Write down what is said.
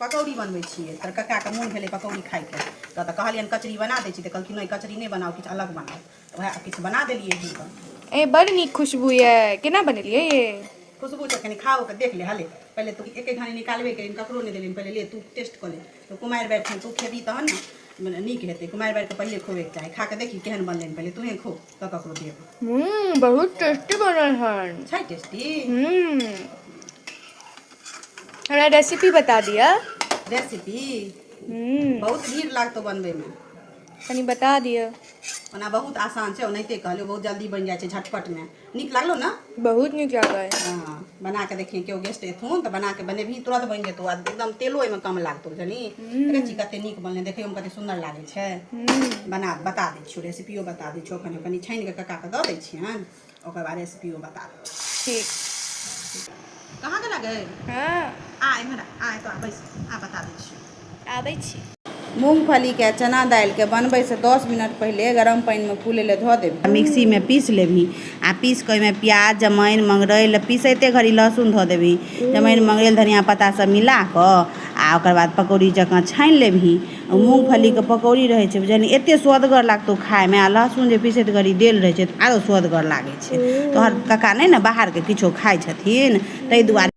पकौड़ी बनबै छियै तोहर कक्काके मोन भेलै पकौड़ी खाइके तऽ तऽ कहलियनि कचरी बना दै छी तऽ कहलखिन नहि कचरी नहि बनाउ किछु अलग बनाउ तऽ उएह किछु बना देलियै हुनका ए बड़ नीक खुशबू ये केना बनेलियै ये खुशबू छै कनि खाओ के देख ले हले पहिले तू एक एक घानी निकालबे के ककरो नहि देलियनि पहिले ले तू टेस्ट कऽ ले तऽ कुमारि बारि छनि तू खेबही तहन ने मने नीक हेतै कुमारि बारिके पहिले खोबेके चाही खा कऽ देखी केहन बनलनि पहिले तूहेँ खो तऽ ककरो देब हम्म बहुत टेस्टी बनल हन छै टेस्टी हम्म हमरा रेसिपी बता दिअ रेसिपी हम्म बहुत भीड़ लागतौ बनबैमे कनि बता दिअ ओना बहुत आसान छै ओनाहिते कहलियौ बहुत जल्दी बनि जाइ छै झटपटमे नीक लागलो ने बहुत नीक लागल हँ बना कऽ देखियै केओ गेस्ट एथुन तऽ बना कऽ बनेबही तुरन्त बनि जेतौ आ एकदम तेलो ओहिमे कम लागतौ बुझलिही देखै छी कते नीक बनलै देखैयोमे कते सुन्दर लागै छै हम्म बना बता दे किछु रेसिपियो बता दै छियौ कनि कनि छानि कऽ कक्काके दऽ दै छियनि ओकर बाद रेसिपियो बता दै ठीक कहाँ गेला गै हँ आ इम्हर आ एतऽ आबै आ बता दै छियौ आबै छी मूँगफलीके चना दालिके बनबैसँ दस मिनट पहिले गरम पानिमे फूलै लए धऽ देब मिक्सीमे पीस लेबही आ पीस कऽ ओहिमे प्याज जमाइन मंगरैल पीसैते घड़ी लहसुन धऽ देबही जमाइन मंगरैल धनिया पत्ता सब मिला कऽ आ ओकर बाद पकौड़ी जकाँ छानि लेबही मूँगफलीके पकौड़ी रहै छै बुझल एते सुअदगर लागतौ खाइमे आ लहसुन जे पिसैत घड़ी देल रहै छै तऽ आरो सुअदगर लागै छै तोहर कका नहि ने बाहरके किछो खाइ छथिन ताहि दुआरे